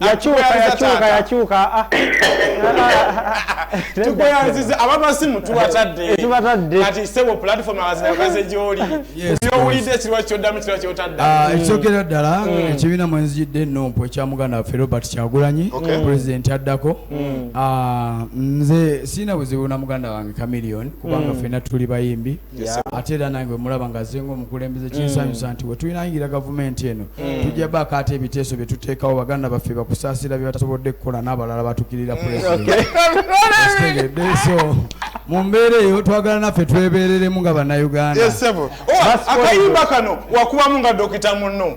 yakyuka yakyuka yakyuka ah. tukweyanziza abamasimu tubatadde tubatadde kati sebo platform abazikaze gyoli byowulidde ekirwa kyoddamu kirwa kyotadde ah, mm. ekisookera ddala mm. ekibiina mwenzijidde enompu ekya muganda waffe robert kyagulanyi pulezidenti addako mm. ah, nze siina buzibu na muganda wange camilion kubanga fena tuli bayimbi ate era nange wemulaba nga azenga omukulembeze kinsanyusa mm. nti wetuyinayingira gavumenti eno mm. tujja baako ate ebiteeso byetuteekawo baganda baffe bakusaasira byebatasobodde kukola n'abalala batukirira mm, pulezidentitegeddeso mu mbeera eyo twagala naffe twebereremu nga bannayugandaakayimba oh, kano wakubamu nga dokita munno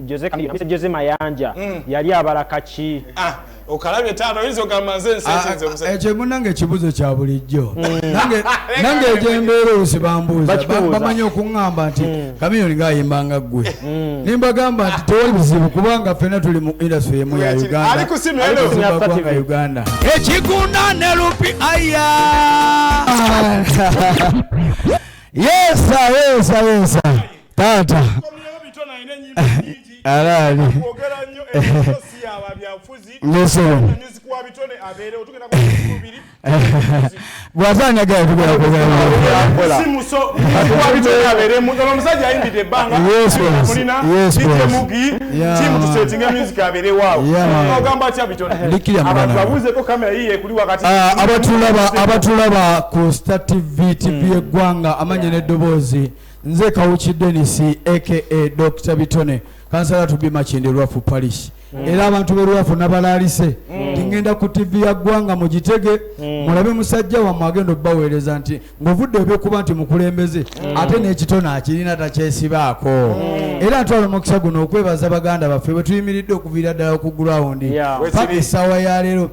Jose Chameleone, Mr. Jose Mayanja mm. yali abala kaki? Ah, okalabye taata oyinza ogamba nze nsekinze ah, ah, omusajja. Ekyo munange ekibuzo kya bulijjo. Mm. Nange nange ekyembeera osibambuuza bamanyi okungamba nti mm. Chameleone ng'ayimba nga ggwe. Mm. Ne mbagamba nti tewali bizibu kubanga ffenna tuli mu industry emu ya Uganda. Ali kusimya elo. Kusimya Uganda. Ekigunda ne lupi aya. Yesa yesa yesa. taata alaali bwazanyaga omusajja ayimbidde ebbangaogamba tyabitonababuuzeko kamera yiye ekuli wakati abatulaba ku sta tv tv eggwanga amanya n'eddoboozi Nze Kawuki Dennis aka Dr. Bitone kansala tubi Makindye Lwafu Parish mm. era abantu be Lwafu nabalaalise mm. tingenda ku TV ya ggwanga mugitege mm. mulabe musajja wammwe agenda okubaweereza nti ng'ovudde ebyokuba nti mukulembeze mm. ate n'ekitone akirina takyesibaako mm. era ntwala omukisa guno okwebaza baganda baffe bwe tuyimiridde okuviira ddala ku gurawundi yeah. paka essaawa ya leero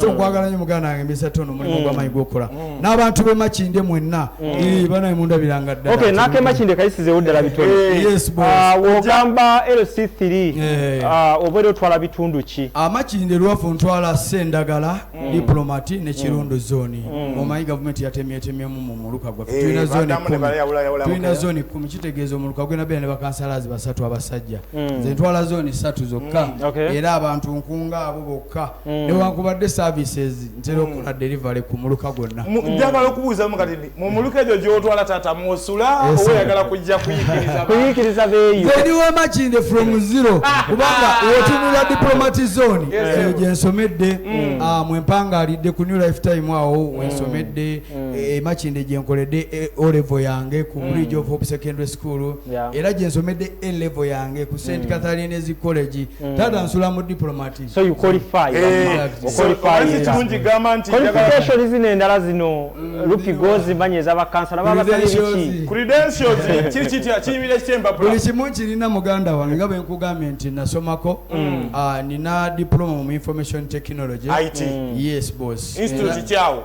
so mm. nkwagala nyo muganda wange misa tono mulimu mm. gwamanyi gwokukola mm. n'abantu be makinde mwenna banaye mundabiranga ddala nake makinde kayisizewo ddala bitono ah, ogamba lc3 ah, obeera otwala bitundu ki ah, makinde lwafu ntwala sendagala diplomati ne kirundo zoni omanyi gavumenti yatemyetemyemu mu muluka gwaffe eh, tulina zoni tulina zoni kumi kitegeeza omuluka gwena beera ne bakansalazi basatu abasajja nze ntwala zoni satu zokka era abantu nkunga abo bokka Mm. newankubadde services ntera mm. okukola delivery ku muluka gwonna mm. njagala okubuuzamu kati nti mu muluka egyo gyotwala taata mwosula oba oyagala kujja kuyikiriza beeyobeni wamakinde from zero ah. kubanga wotunula diplomatic zone eyo gyensomedde ah, mwempangaalidde ku new life time awo wensomedde emakinde eh, gyenkoledde eh, olevo yange ku bridge of hope secondary school era gyensomedde elevo yange ku st catharines college taata nsula mu diplomatic so you qualify eh, okirungi gamba nti qualification zino endala zino mm. lupi gozi manyi eza bakansala baba basali biki credentials kiri kitya kiyimira ekyempapula buli kimu kirina muganda wange nga bwe nkugambye nti nasomako mm. ah, nina diploma mu information technology it mm. yes boss institute kyawo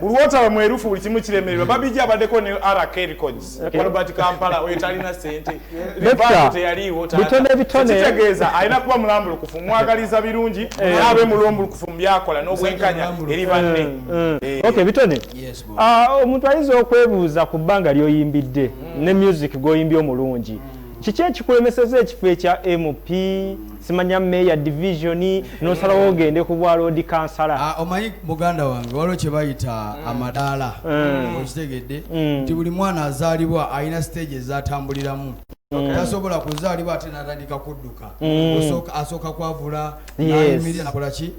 bulwotaba mwerufu buli kimu kiremererwa babiji abadeko ne rk records albert kampala oyo talina sente libateyaliiwotegeeza alina kuba mulambulukufu mwagaliza birungi abe mulwomulukufu mubyakola nobwenkanya eri banne eh, eh. Eh. ok bitone ah, omuntu ayinza okwebuuza ku bbanga lyoyimbidde mm. ne music gwoyimbye omulungi mm. kiki ekikulemeseza ekifo ekya mp simanya meya division nosalawo ogende ku bwa loodi kansala ah, omanyi muganda wange waliwo kye bayita mm. amadaala mm. okitegedde mm. nti buli mwana azaalibwa alina siteegi ezatambuliramu tasobola kuzaalibwa ate natandika kudduka asooka kwavula nakolaki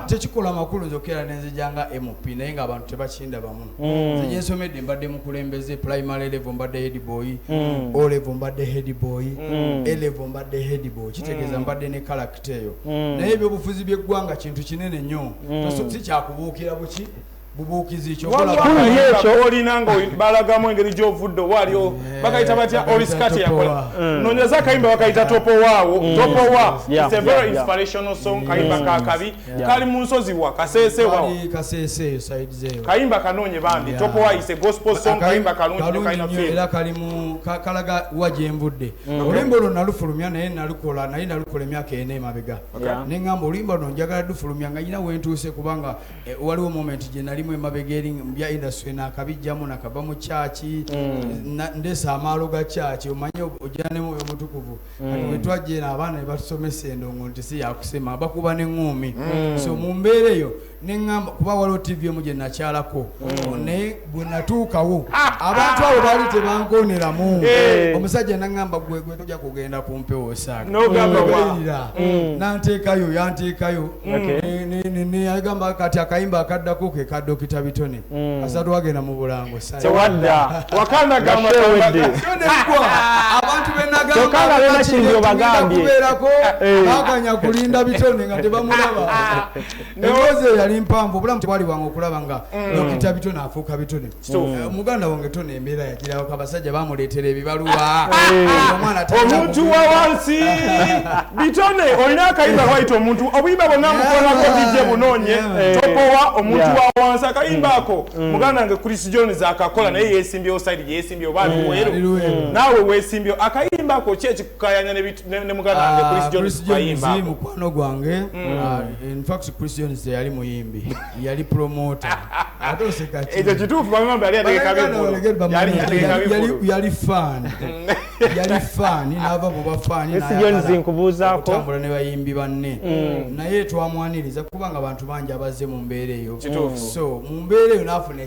tekikola makulu nzokera nenzijanga mp naye nga abantu tebakindabamu mm. nze gyensomedde mbadde mukulembeze primary level mbadde headboy mm. o level mbadde headboy mm. a level mbadde headboy kitegeeza mm. mbadde ne kalakita eyo mm. naye ebyobufuzi byeggwanga kintu kinene nnyo mm. si kyakubuukira buki bubuukizi kyoolina nga balagamu engeri gyovudde owaaliwo eh, bakayita batya olisikati yakola mm. nonyeza akayimba bakayita topowaawo mm. topowa is a very inspirational song kayimba kakabi kali munsozi wa kasese wa kasese side zero kaimba kanonye bambi yeah. topoa is a gospel song kaimba kalungi nyo kaina feel era kali mu kalaga waje mbudde mm. olimbo lo nalufulumya naye nalukola naye nalukola emyaka ene mabega okay. yeah. ne ngamba olimbo no njagala dufulumya nga nyina wentuse kubanga e, waliwo moment je nali mu mabega eri mbya industry na kabijjamu na kaba mu church mm. na, ndesa amalo ga church omanyo ojane mu mutukuvu kati wetwajja eno abaana nebatusomesa endongo nti si yakusema bakuba neŋuumi mm. so mu mbeera eyo neŋamba kuba waliwo tivi emu gye nakyalako mm. naye bwe natuukawo ah, ah. abantu abo baali tebankoneramu eh. omusajja naŋamba gwegwe toja kugenda ku mpewo osaagaerira mm. nanteekayo yanteekayo neyagamba kati akayimba akaddako ke ka dokita bitone Mm. azadwagenda mu bulango tewadda wakanda gamba tewedde abantu benagamba benakinzio bagambye kubeerako eh. baganya kulinda bitonde nga tebamulaba emboozi eyali mpanvu obulamu tebwali bwange okulaba nga mm. dokita bitone afuuka bitone eh, muganda wange tone embeera yagirabako abasajja bamuleetera ebibaluwa omuntu wa wansi bitone olina akayimba waita omuntu obuyimba bonna mukolako bijje bunoonye eh. tokowa omuntu wa wansi akayimba ako mm. Mm. muganda nge chris jones akakola naye yesimbyewo saidi gyeyesimbyewo bali mm. weru naawe wesimbyewo akayimba ako ki ekikukayanya ne muganda nge ah, chris jones kayimba mukwano gwange ah, infact chris jones teyali muyimbi yali promoter ate oseka ki ekyo kituufu bamwe bambi yali ategeka bivulu yali ategeka bivulu yali fan yali fan n'ava mu bafaani n'ayagalaokutambula ne bayimbi banne mm. naye twamwaniriza kubanga abantu bangi abazze mu mbeera eyo so mu mbeera eyo n'afuna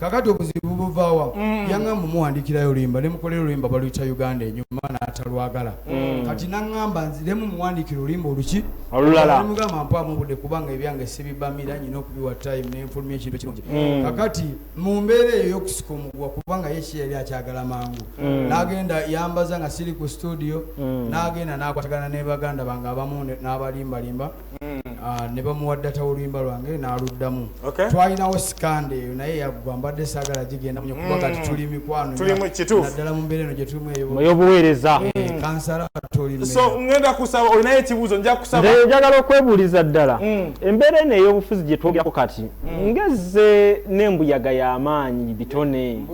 kakati obuzibu buvawa mm. yaŋamba omuwandikirayo oluyimba nemukolera oluyimba baluyita uganda enyuma natalwagala mm. kati naŋamba nziremu muwandikira oluyimba oluki olulalamugamba mpamubude kubanga ebyange sibibamira nyina okubiwa time nenfulumya ekintu kirungi mm. kakati mu mbeera eyo yokusika omuguwa kubanga yeki yali akyagala mangu nagenda yambaza nga siri ku studio nagenda nakwatagana nebaganda bange abamu nabalimbalimba mm. ah, ne bamuwa data oluyimba lwange n'aluddamu twalinawo sikande eyo naye yaggwa mbadde saagala gigenda munyo kuba kati mm. tuli mikwano naddala mu mbeera eno gye tulimu eyobuweereza eh, mm. kansala toliso ngenda kusaba olinayo ekibuuzo nja kusaba njagala okwebuuliza ddala embeera eno ey'obufuzi gye twogerako kati ngezze n'embuyaga y'amaanyi bitone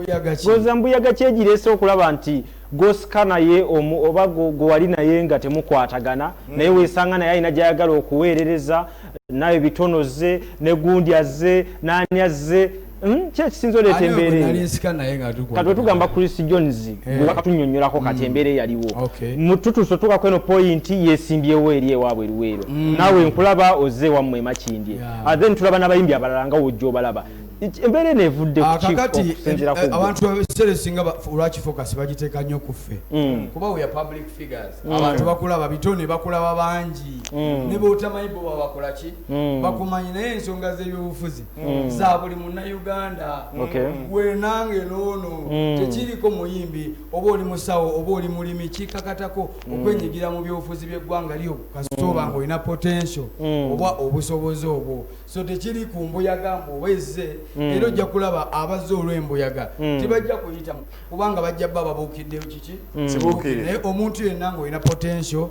goza mbuyaga kyegireese okulaba nti gwosika naye omu oba gwewali naye nga temukwatagana mm. naye wesanga naye alina gyayagala okuweerereza nawe bitono ze ne gundi azze naani azze hmm? ki ekisinza oleeta embeerakatwe tugamba chris jones eh. gwewakatunyonyolako kati mm. embeera eyaliwo tutuso tuka kweno poyinti yesimbyewo eri ewaabwe eruweero mm. nawe nkulaba ozze ewammwe emakindye ah, then tulaba n'abayimbi abalala nga wojja obalaba embeera eno evudde ah, kakati eh, abantu ebiseera esinga olwakifokasi bagiteeka nnyo ku ffe mm. kuba weya public figures mm. abantu bakulaba bito ne bakulaba bangi mm. ne botamanyi bo babakola ki bakumanyi naye ensonga z'ebyobufuzi za buli munnauganda wenange noono tekiriko muyimbi oba oli musawo oba oli mulimi kikakatako okwenyigira mu byobufuzi by'eggwanga lyo kasita oba nga olina potential oba obusobozi obwo so tekiri ku mbuyaga mbu oba ezze mm. era ojja kulaba abazze olw'embuyaga mm. tebajja kuyita kubanga bajja bba babuukiddeyo kiki mm. naye omuntu yenna ngaolina potential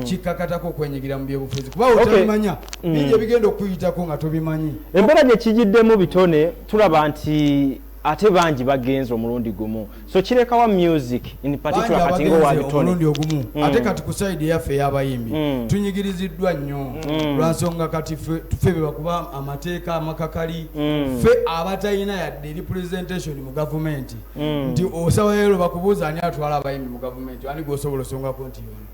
kikkakatako okwenyigira mu byobufuzi kuba otabimanya bingi ebigenda okukuyitako nga tobimanyi embeera gye kigiddemu bitone tulaba nti ate bangi bagenze omulundi gumu so kirekawa music in particular kati nga owabitoniomulundi ogumu mm. ate kati ku side eyaffe eyabayimbi mm. tunyigiriziddwa nnyo mm. lwansonga kati fe bebakuba amateeka amakakali mm. fe abatalina yadde eri presentation mu gavumenti mm. nti osawaero bakubuuza ani atwala abayimbi mu gavumenti ani gwosobola osongako nti yona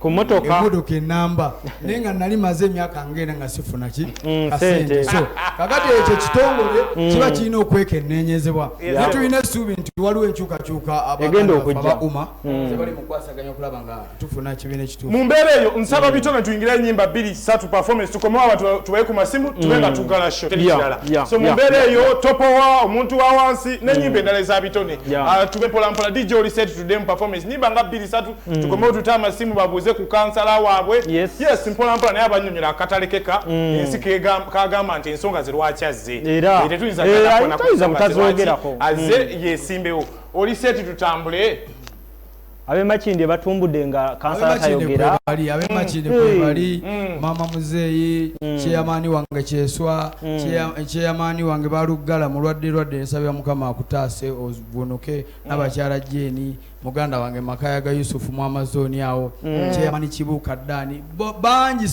ku motoka emotoka enamba naye nga nali maze emyaka ngenda nga sifuna ki mm, kasente so kakati ekyo kitongole mm. kiba kirina okwekenenyezebwa naye tulina essuubi nti waliwo enkyukakyuka abauma mm. tebali mukwasaganya okulaba nga tufuna kibiina ekituufu mu mbeera eyo nsaba bitone tuyingire enyimba bbiri satu performance tukomewo abantu tubaye ku masimu tube nga tugala sho teri kirala so mu mbeera eyo topowa omuntu wa wansi n'enyimba endala eza bitone ah, tube polampola dj oli set tudemu performance nyimba nga bbiri satu mm. tukome otute amasimu babuuze ku kansala waabwe yes, yes mpolampola naye abanyonyola akatalekeka mm. ensi kagamba nti ensonga zerwaki azze era tetuyinza eh, butazogerako azze mm. yesimbewo oli seti tutambule abemakinde batumbude nga kansala tayogera abemakinde hmm. kwebali hmm. hmm. mama muzeeyi kyeyamaani wange kyeswa kyeyamaani wange baluggala mulwadde lwadde nsabira mukama akutaase ovunuke nabakyala jeeni muganda wange makaya ga yusufu mu amazoni awo mm. kyeyamani kibuuka ddaani bangi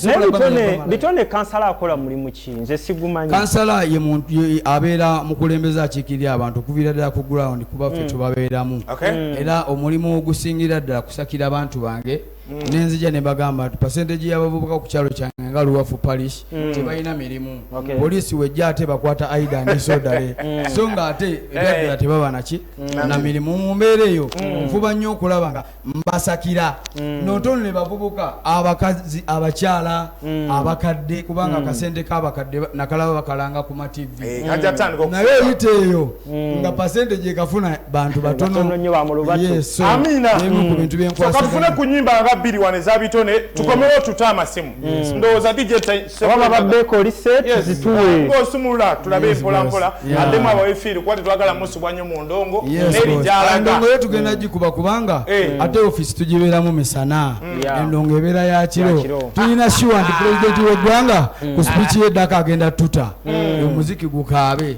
bitone kansala akola mulimu ki nze sigumanyi kansala ye muntu abeera mukulembeza akiikirira abantu okuviira ddala ku ground kuba ffe mm. tubabeeramu mm. era omulimu ogusingira ddala kusakira abantu bange Mm. nenzija nebagamba nti percentage yabavubuka ku kyalo kyange nga luwafu parish mm. tebalina mirimu poliisi wejja ate bakwata aida nesodale mm. so nga ate ebyaddala eh. tebaba naki na mirimu mu mbeera eyo nfuba nnyo okulaba nga mbasakira notono ne bavubuka abakazi abakyala abakadde kubanga akasente kabakadde nakalaba bakalanga ku mativi eh, naye oyita eyo Mm. nga pasente gyekafuna bantu eh, batonoyesokatufune mm. ku nyimba nga bbiri wano ezabitone mm. tukomewo tute amasimu ndowooza dijosumulula tulabe empolampola addemu abawefiiri kuba tetwagala musubwa nyo mu ndongo nerijalagaendongo yo tugenda gikuba kubanga eh. ate ofisi tugibeeramu misana endongo ebeera ya kiro tulina shuwa nti pulezidenti w'eggwanga ku spiiki y'eddaka agenda tuta omuziki gukaabe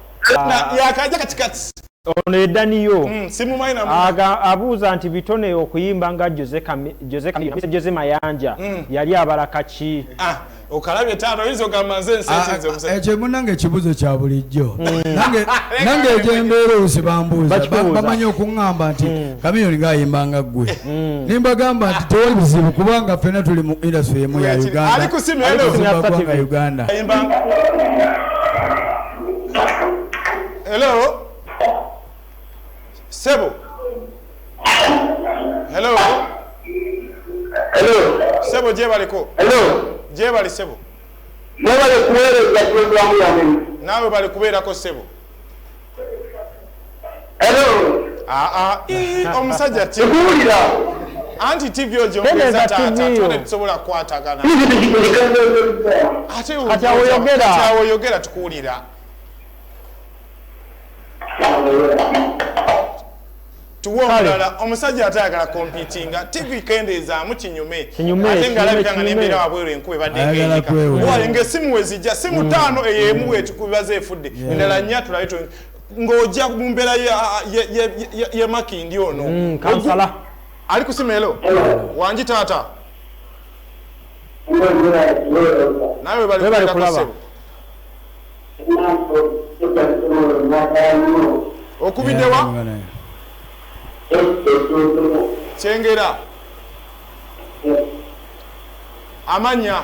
yakaja katikati ono edaniyo mm, abuuza nti bitone okuyimba nga jose mayanja mm. yali abala kaki ah, okalabye taata oyinza ogamba nze ensiekyo ah, ah, munange ekibuzo kya bulijjo mm. nange egyembeera olusi bambuuzabamanyi okuŋamba nti mm. kamiyoni ngaayimba nga ggwe mm. nimbagamba nti tewali bizibu kubanga ffena tuli mu industry emu ya uganda uganda hello sebo hello hello sebo jebaliko hello jebali sebo nebale kuwereza programu yamwe nawe bali kubeerako sebo omusajja tikuwulira anti tv ogyongeza taata tone tusobola kukwatagana ate oyogera tukuwulira tuwe omulala omusajja ate ayagala kompitinga tv kendeezaamu kinyume ate ngaalabika nga nembeera wabweru enkuba ebaddengaenyika nga esimu wezijja simu mm. taano eyo emu wetukubibaza efudde endala nnya tulabe ng'ojja mu mbeera ye makindi ono mm, kansala ali ku simeelo wangi taata naye webali kulaba okubiddewa kyengera amanya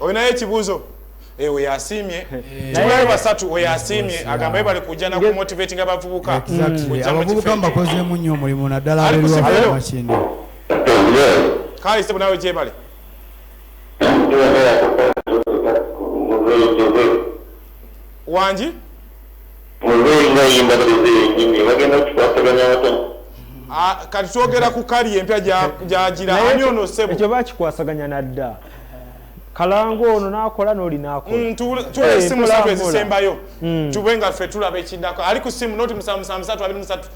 olinayo ekibuuzo eh, oyo asiimye eh. tubayo basatu oyo asiimye agamba ye bali kujja nakumotivati nga bavubuka abavubuka mbakozeemu nnyo omulimu naddala abelwamakindi kale sebo nawe gyebale wangi Kati twogera ku kali empya gyagira ani ono ssebo? Ekyo bakikwasaganya na dda. Kalango ono n'akola n'oli n'akola. Mm, Tuwe eh, essimu zaffe ezisembayo mm. tube nga ffe tulaba ekiddako. Ali ku ssimu noti musanvu musanvu musatu abiri musatu.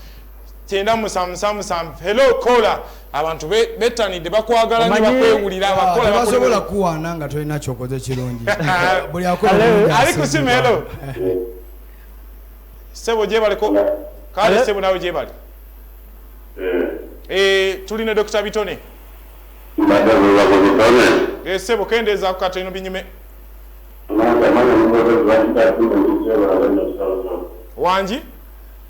kyenda musamusamusamu hello kola abantu bettanidde bakwagala nyo bakwewulira ah, abakolaabasobola kuwaana nga tolina kyokoze kirungi buli ali kusima hello sebo gyebaleko kale sebo nawe gyebali eh. Eh, tuli ne dokita bitone eh, sebo kendeezaku kateno binyume wangi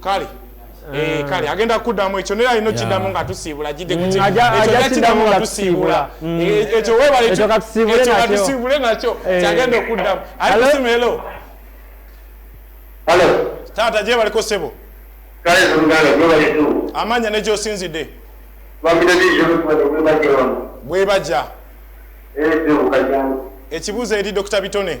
kale Eh, eh. kale agenda kuddamu ekyo naye alina okiddamu nga tusiibula gidde kuekiddamu mm. nga tusiibula mm. eh, ekyo webaleekyo katusiibule nakyo kyagenda okuddamu ali kusimu elo taata gyebaliko sebo amanya negyosinzidde bwebajja ekibuuzo eri dokita bitone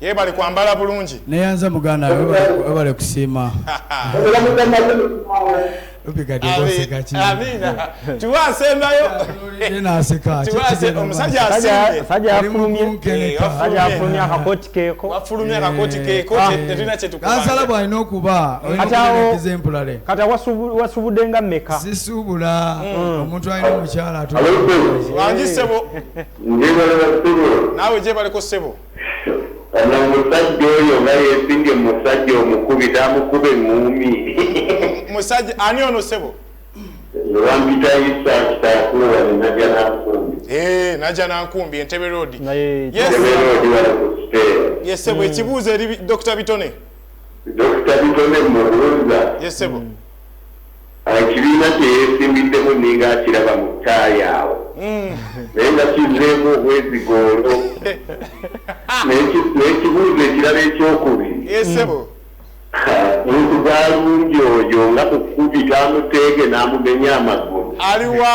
yebale kwambala bulungi neyanza muganda webale kusiima tuwasembeyowafulumyakakotikekoansala bwalina okuba kati wasubude nga meka sisuubula mm. omuntu alina omukyala atuwangi sebo naawe gyebaleko sebo ono omusajja oyo nga yesimbye omusajja omukubi namukube ngumi musajja ani ono sebo wampita isa kitakuwa naja nankumbi eh, naja nankumbi entebe rodi yesebo mm. ekibuuzo eri dr bitone dr bitone mubuuza yesebo mm. Ekibiina kye yeesimbiddemu nninga akiraba mu ttaayi awo naye nga kizzeemu obwezigo olwo n'ekibuuzo ekirala ekyokubiri muntu gwalumbye oyo nga mukubi gaamuteege n'amumenya amagulu aliwa?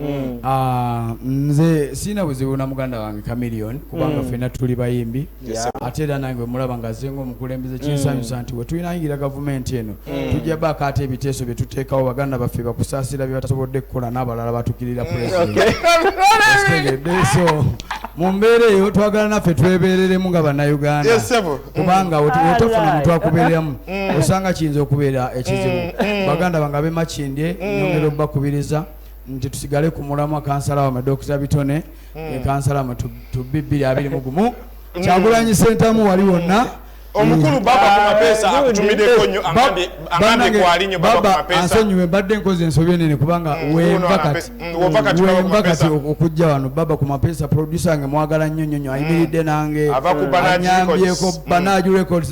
Mm. Ah, nze sirina buzibu na muganda wange chameleon kubanga mm. fena tuli bayimbi ate era nange wemulaba nga azenga omukulembeze kinsanyusa mm. nti wetulinayingira gavumenti eno tujja baako ate ebiteeso byetuteekawo baganda baffe bakusaasira byebatasobodde kukola n'abalala batukirira pulezidentso mu mbeera eyo twagala naffe twebeereremu nga bannayuganda kubanga wetofuna muntu akubeeramu osanga kiyinza okubeera ekizibu baganda bange abemakindye nyongera obubakubiriza nti tusigale ku mulamwa kansala wamwe Dokita Bitone hmm. ne kansala wamwe tubbi bbiri abiri mu gumu hmm. kyagulanyi sentamu wali wonna omukulu hmm. baba ku mapeesa eh, akutumideko nyo angambye kwali nyo baba ku mapeesa ansonyiwe mbadde nkoze ensobi enene kubanga wenva kati wenva kati okujja wano baba ku mapeesa producer nge mwagala nnyo nnyo nyo ayimiridde nange anyambyeko banaju records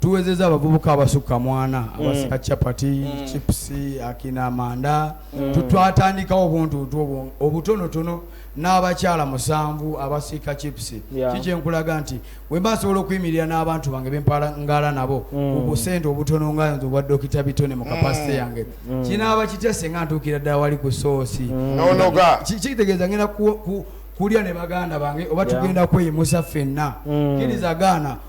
tuwezeza abavubuka abasukka mwana mm. abasika chapati mm. chips akina manda mm. tutwatandikawo obuntuntu obwo obutonotono n'abakyala musanvu abasiika chips kikyenkulaga nti wemba nsobola okuyimirira n'abantu bange bempalangala nabo mm. obusente obutono nga nze obwa dokita bitone mu kapasite mm. yange mm. kinaaba kitya senga ntuukira ddala wali ku soosi kitegeeza ngenda kulya ne baganda bange oba tugenda kweyimusa ffenna kiriza gaana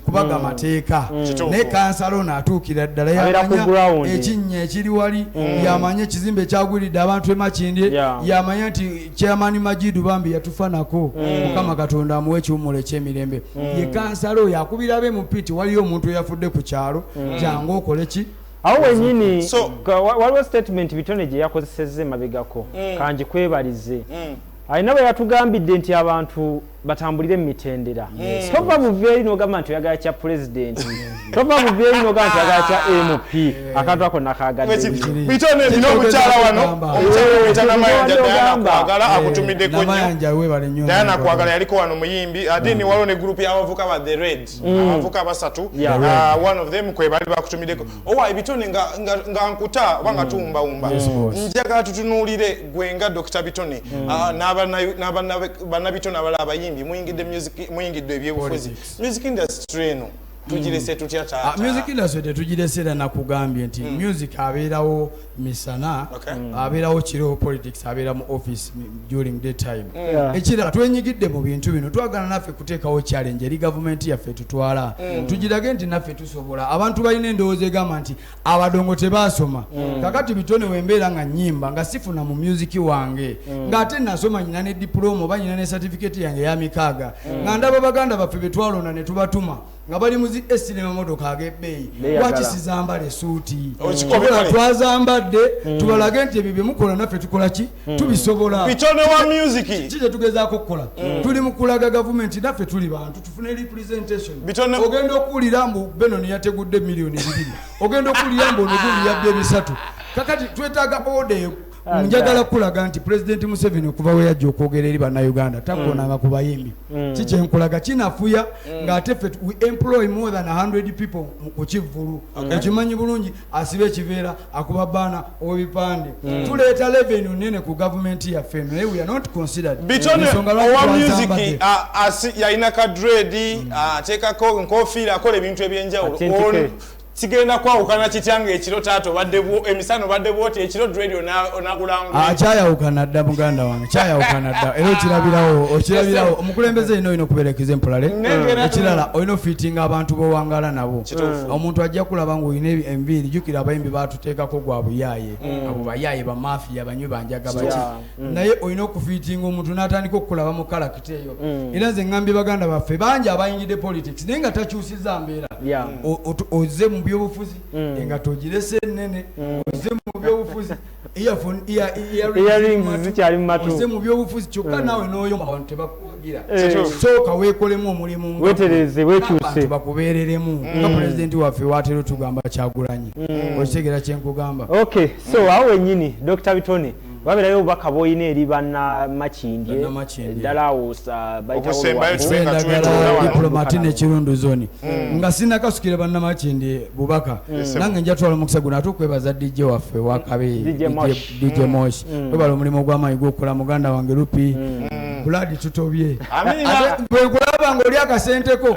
kubaga mm. amateeka mm. naye kansala ono atuukira ddala yamanya ekinnya ekiri wali mm. yamanya ekizimbe ekyagwiridde abantu emakindye yamanya nti chairman majidu bambi yatufanako mukama katonda amuwa ekiwumulo ekyemirembe ye kansala oyo akubira be mu piti waliyo omuntu eyafudde ku kyalo jangu okole ki awo wenyini waliwo statement bitone gye yakozesezza emabegako kangikwebalize alina bwe yatugambidde nti abantu batambulire mu mitendera tova buva eri n'ogamba nti oyagala kya pulezidenti tova buva eri n'ogamba nti oyagala kya mp akantu ako nakagaddebitoneinomukyala wano omukyalaomutanamayanjaagala akutumiddeko nyodayana kwagala yaliko wano muyimbi ate ni waliwo ne gurupu y'abavuka ba the red mm. abavuka basatu uh, one of them kwebali bakutumiddeko owa ebitone nga nkuta oba nga mm. tuwumbawumba njagala tutunuulire gwe nga dr bitone mm. ah, nabanabitone abala abayimbi muyingidde ebyobufuzi music industry eno tugirese mm. tutya taata ah, music industry tetugirese era nakugambye nti mm. music abeerawo misana mm. abeerawo kiro politics abeera mu office during day time ekirala twenyigidde mu bintu bino twagala naffe kuteekawo challenge eri gavumenti yaffe tutwala tugirage nti naffe tusobola abantu balina endowooza egamba nti abadongo tebasoma mm. kakati bitone wembeera nga nyimba nga sifuna mu musiki wange mm. ngaate nasoma nyina ne dipulooma oba nyina ne satifiketi yange yamikaaga mm. nga ndaba baganda baffe betwalonda netubatuma nga bali muzi esire mamotoka agebbeeyi lwaki sizambala esuuti oh, twaza mbadde tubalage nti ebyo byemukola naffe tukola ki Hmm. tubisobola bitono wa music kiki kyetugezaako okukola hmm. tuli mu kulaga gavumenti naffe tuli bantu tufune representation ogenda okuwulira mbu benon yategudde miliyoni bibiri ogenda okuwulira mbu onogulu yabba ebisatu kakati twetaaga odeyo ah, njagala kukulaga nti pulezidenti museveni okuva we yajja okwogera eri bannayuganda takonanga hmm. ku bayimbi ki kyenkulaga kinafuya ng'ate ffe we employ more than 100 people ku kivvulu okimanyi bulungi asiba ekiveera akuba baana owebipande mm. tuleeta leveni onene ku gavumenti yaffe eno naye weare not considered bitonyoowa music yalina ka dredi mm. ateekako nkofiira akola ebintu ebyenjawulo kigenda kwawukana kitya nga ekiro taata obadde emisana obadde bwoti ekiro dredio onakulangula ah, kyayawukana dda muganda wange kyayawukana dda era okirabirawo okirabirawo omukulembeze yina olina okuberekeza empolale ekirala olina ofitinga abantu bowangala nabo Mm. omuntu ajja kulaba ngaolina enviiri jukira abayimbi batuteekako gwa buyaaye mm. abo bayaaye bamafiya banywi banjaga baki mm. naye olina okufiitinga omuntu n'atandika okukulaba mu kalakita eyo era nze ngambye baganda baffe bangi abayingidde politics naye nga takyusiza mbeera ozze mu byobufuzi engato ogirese enene ozze mu byobufuzi mubyobufuzi kyokka hmm. nawe noyo abantu tebakuwagira eh. sooka wekolemu omulimu wetereze wekyuse bakubereremu hmm. nga pulezidenti waffe watera otugamba kyagulanyi hmm. okitegera kyenkugamba ok so awo wenyini dr bitone waberayo obubaka bwoyina eri bana makindye ddala awo baitawolwadiplomati nekirundu zoni nga sinakasukire banamakindye bubaka mm. nange njatwala omukisa guno ate okwebaza dj waffe wakabe dj mosh mm. mm. webala omulimu ogwamaanyi gwokukola muganda wange lupi buladi tutobye bwekulaba nga oli akasenteko